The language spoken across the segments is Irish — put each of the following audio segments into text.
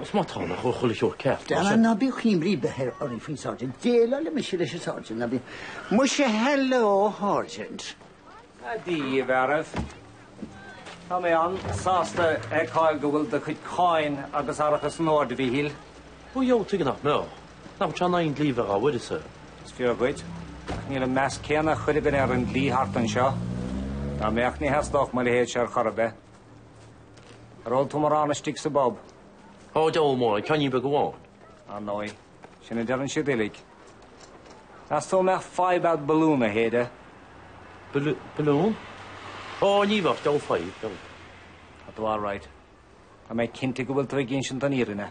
Is maith tánn a chur chuile shórt ceart, ná Deanna, sin? ná bíodh aon imní ar bith oraibh faoin sergeant. Déileálfaidh mise leis an sergeant, ná bíodh. Muise, Hello, Sergeant. Dia dhaoibh a fhearaibh. Tá mé an-sásta a fheiceáil go bhfuil do chuid cáin agus árachas in ord, a Mhíchíl. Ó dhiabhal, tuige nach mbeadh? Nach bhfuil sé in aghaidh an dlí bheith dhá uireasa? Is fíor dhuit, ach níl an meas céanna ag chuile dhuine ar an dlí thart anseo. Dá mbeadh, ní theastódh mo leithéidse ar chor ar bith. Ar ól tú mórán istigh sa bpub? Ó, diabhal mórán, ceainnín beag amháin. Ar ndóigh, sin a deireann siad uilig. Meas tú an mbeadh fadhb a'd balún a shéideadh? Bal, balún? Ó, ní bheadh, diabhal fadhb, diabhal. Tá tú alright. Tá mé cinnte go bhfuil tú ag insint an fhírinne.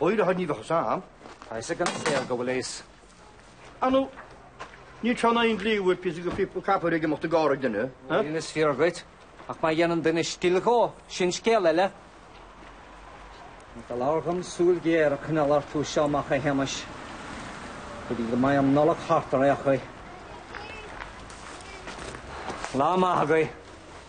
Óir a thuirní bheadh as am. Tá fhios ag an saol go bhfuil fhios. Anu, níl sé in aghaidh an dlí bhfuil píosa de phíopa copair ag imeacht i gcarr ag duine. Níl, is fíor dhuit, ach má dhéanann duine stil dhó, sin scéal eile. Tá iallach orm súil ghéar a choinneáil orthu seo amach a Shéamais, go dtí go mbeidh an Nollaig thart ar aon chaoi. Lá maith agaibh.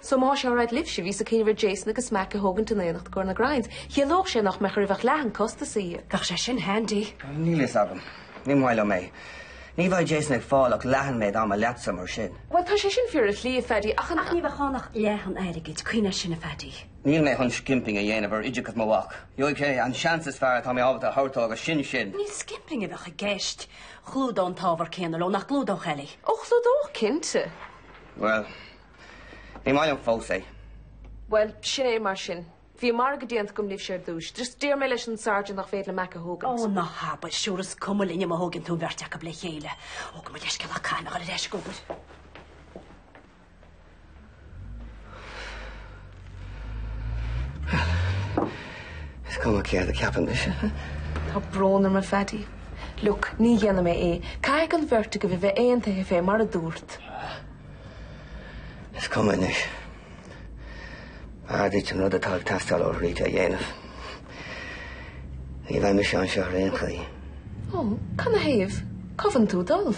So más alright libhse, bhíos ag cuimhneamh ar Jason agus Mack a thógaint in éineacht i gcomhair na grinds. Chiallódh sé nach mbeadh oraibh ach leath an chostais a íoc. Bheadh sé sin handy. Níl fhios agam. Ní maith liom é. Ní bheidh Jason ag fáil ach leath an méid ama leatsa mar sin. Bhuel tá sé sin fíor ar shlí a Phaddy ach an Ach ní bheadh ann ach leath an airgid, cuimhnigh air sin a Phaddy. Níl mé chun skimping a dhéanamh ar oideachas mo mhac. Gheobhaidh sé an seans is fearr atá mé ábalta a thabhairt dó agus sin sin. Ní skimping a bheadh i gceist. Chlúdódh an t-ábhar céanna leo, nach gclúdódh, Ellie? Ó, chlúdódh, cinnte. Bhuel, ní maith liom fós é. Bhuel, sin é mar sin. Bhí an margadh déanta agam libhse ar dtúis. Just déarfaidh mé leis an sergeant nach féidir liom Mack a thógaint. Ó, ná habair, sure is cuma linne má thógann tú an bheirt acu le chéile. Ó, gabh mo leithscéal ach caithfidh mé dhul ar ais ag obair. Is cuma céard a cheapann mise. Tá brón orm, a Phaddy. Look, ní dhéanfaidh mé é. Caithfidh an bheirt agaibh a bheith aontaithe fé mar a dúrt. Is cuma anois. B'fhearr duit an rud atá ag teastáil ó Rita a dhéanamh. Ní bheidh mise anseo ar aon chaoi. Ó, canathaobh? Cá bhfuileann tú ag dul.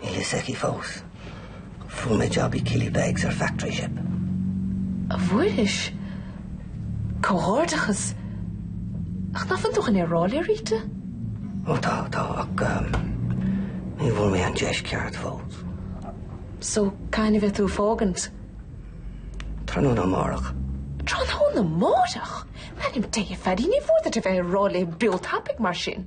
Níl fhios aici fós. Fuair mé job i Killybegs ar factory ship. An bhfuairis? Comhghairdeachas! Ach nach bhfuil tú chun é a rá le Rita? Ó tá, tá, ach ní bhfuair mé an deis ceart fós. So, cathain a bheidh tú ag fágaint? Tráthnóna amárach. Tráthnóna amárach? In ainm Dé, a Phaddy, ní mór duit a bheith á rá léi breá tapaidh mar sin.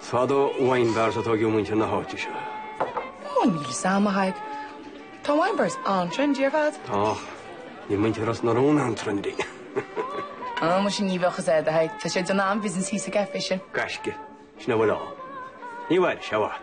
Fad ó wine bars a tóigeadh muintir na háite seo. Ó, níl 'fhios a'm, a Thaidhg. Tá wine bars an-trendy ar fad. Tá. Níl muintir Ros na Rún an-trendy. Ó, mar sin ní bheadh 'fhios a'd, a Thaidhg. Tá siad ag déanamh an-bhusiness thíos sa gcaifé sin. Gaisce. Sin a bhfuil ann. Ní mhairfidh sé i bhfad.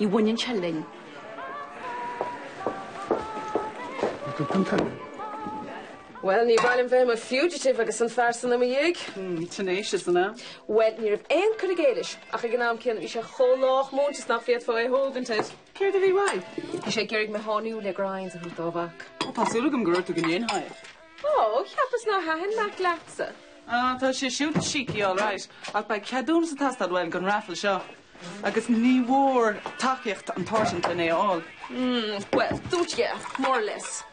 Ní bhaineann sé linn. Bhuel, ní bhaineann bheith i mo fugitive agus an fear san i mo dhiaidh. Tenacious, an ea? Bhuel, ní raibh aon cur i gcéill ach ag an am céanna bhí sé chomh lách múinte is nach bhféadfá é a thógaint air. Céard a bhí uaidh? Bhí sé ag iarraidh mé a sháinniú le grinds a thabhairt dá mhac. Ó, tá súil agam gur dhúirt tú go ndéanfá é. Ó, cheapas nár thaitin Mack leatsa. Á, tá sé siúd cheeky alright, ach beidh ceadúnas ag teastáil uaidh don raffle seo. agus ní mór tacaíocht an tSáirsint lena fháil. Bhuel, dúirt sé, more or less.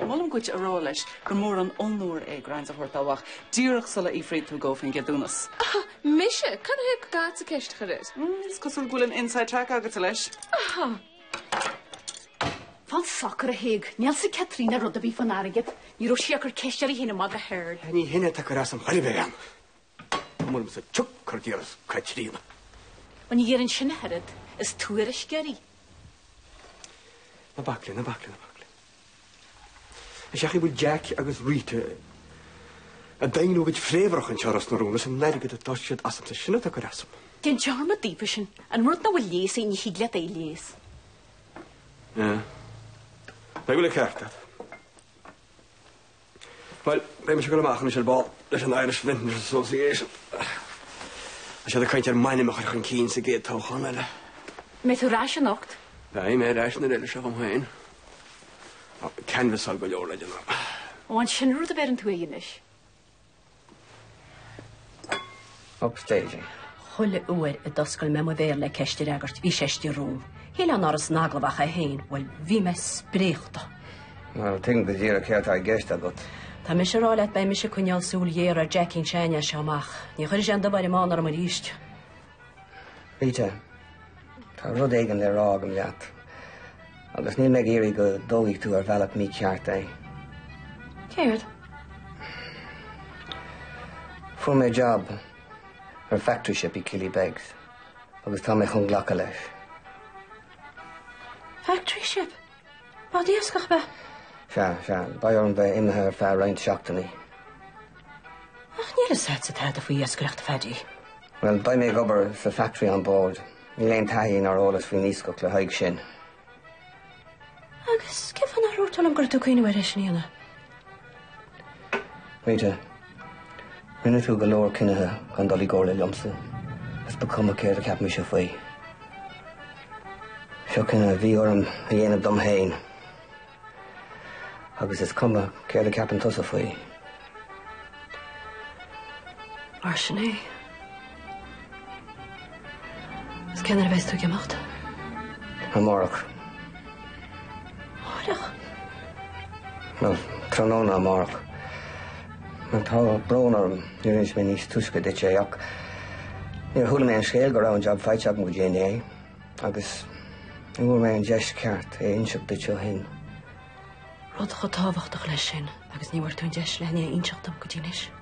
Molaim dhuit a rá leis gur mór an onóir é grinds a thabhairt dá mhac, díreach sula fhiafraíonn tú dhó faoin gceadúnas. Aha, mise? Cad chuige nach dtig leatsa ceist a chur air? Is cosúil go bhfuil an inside track agatsa leis. Aha! Fan socair a thug Niall do Chaitríona rud a bhí fán airgead. Ní raibh sí ag cur ceist ar shláine mhaitheas ard. Ní hin a tuigtear as an choinnibh ar an. An bhfuil mise tugtha ar d'iarratas, Caitríona? Ó, ní dhearna sin ach oiread. Is tuairisceoir í. Na baicle, na baicle, na baicle. Is ea, an bhfuil Jack agus Rita ag daingniú a gcuid fréamhrach anseo i Ros na Rún is an t-airgead atá siad asamsa sin atá ag cur asam? Déan dearmad daofa sin. An rud nach bhfuil leigheas air, ní thig leat é a leigheas. Nach bhfuil an ceart agat. Bhuel, beidh mise ag dul amach anois ar ball leis an Irish Vintners Association. Tá siad ag caint ar m'ainm a chur chun cinn sa gcéad toghchán eile. Mbeidh tú ar ais anocht? Beidh mé ar ais nuair a fheileas sé dhom féin. Canvasáil go leor le déanamh. Ó, an sin an rud a bheir tú air anois? Upstaging. Chuile uair a d'oscail mé mo bhéal le ceist a fhreagairt, bhí sé istigh romham. Shíl nach raibh ann san agallamh ach é féin, bhuel, bhí mé spréachta. Well, tuigim go díreach céard atá i gceist agat. Tá mise ag rá leat, beidh mise ag coinneáil súil ghéar ar Jackín Seáin as seo amach. Ní chuirfidh sé an dubh ar an mbán orm aríst. Rita, Tá rud éigin le rá agam leat, agus níl mé ag iarraidh go dtógfaidh tú ar an mbealach mícheart é. Céard? Fuair mé jab ar factory ship i Killybegs, agus tá mé chun glacadh leis. Factory ship? Bád iascaigh, ab ea. Sea, sea, beidh orm bheith imithe ar feadh roinnt seachtainí. Ach níl a fhios agatsa tada faoi iascaireacht, a Phaidí. Bhuel, beidh mé ag obair sa factory on board. Ní theastaíonn taithí ná eolas faoin iascach le haghaidh sin. Agus cé fáth nár dhúirt tú liom go raibh tú ag cuimhniú ar é sin a dhéanamh? Rita, rinne tú go leor cinnithe gan dul i gcomhairle liomsa, is ba chuma céard a cheap mise faoi. Seo cinneadh a bhí orm a dhéanamh dom féin, agus is cuma céard a cheapann tusa faoi. Mar sin é. Cén uair a bheas tú ag imeacht? Amárach. Amárach? Bhuel, tráthnóna amárach. Ach tá brón orm, nár inis mé níos túisce duit é, ach níor chuala mé an scéal go raibh an jab faighte agam go dtí inné, agus ní bhfuair mé an deis ceart é a inseacht duit ó shin. Rud chomh tábhachtach leis sin, agus ní bhfuair tú an deis lena inseacht dom go dtí anois.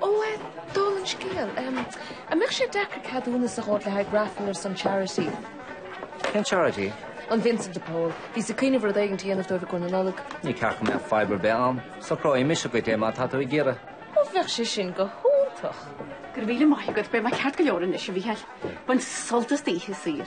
Ó, eh, dála an scéil, em, an mbeadh sé deacair ceadúnas a thabhairt le haghaidh raifil ar son charity? Cén charity? An Vincent de Paul. Bhíos ag cuimhneamh rud éigin a dhéanamh dóibh i gcomhair na Nollag. Ní cheapfainn go mbeadh fadhb ar bith ann. Socróidh mise duit é má tá tú ag iarraidh. Ó, bheadh sé sin go hiontach. Go raibh míle maith agat, beidh mé ceart go leor anois, a Mhícheáil. Bain sult as d'oíche saor.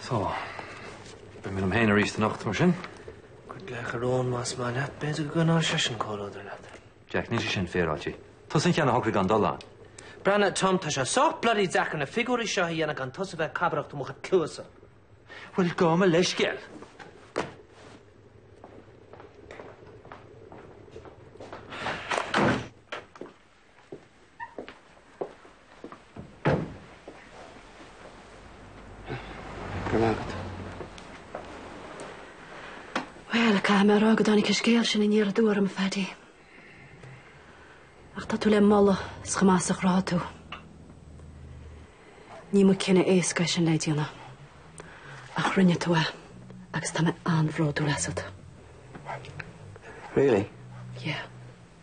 So, beidh mé liom féin arís anocht, mar sin. Cuir glaoch ar Eoin más maith leat. B'fhéidir go gcoinneoidh seisean comhluadar leat. Jack, níl sé sin féaráilte. Tusa an ceann a shocraigh gan dul ann. Breathnaigh, Tom, tá sé sách bloody deacair na figiúirí seo a dhéanamh gan tusa a bheith ag cabaireacht i mo chluasa. Bhuel, gabh mo leithscéal. Grma agat. Bhuel, caithfidh mé a rá gur tháinig an scéal sin aniar aduaidh orm, a Phaidí. Ach tá tú le moladh as chomh maith is a chruthaigh tú. Ní ba cinneadh éasca é sin le déanamh. Ach rinne tú é agus tá mé an-bhródúil asat. Really? Yeah.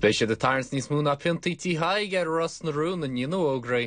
Beidh siad ag tarraingt níos mó ná piontaí tí Thaidhg ar Ros na Rún i ndiaidh na bhfógraí.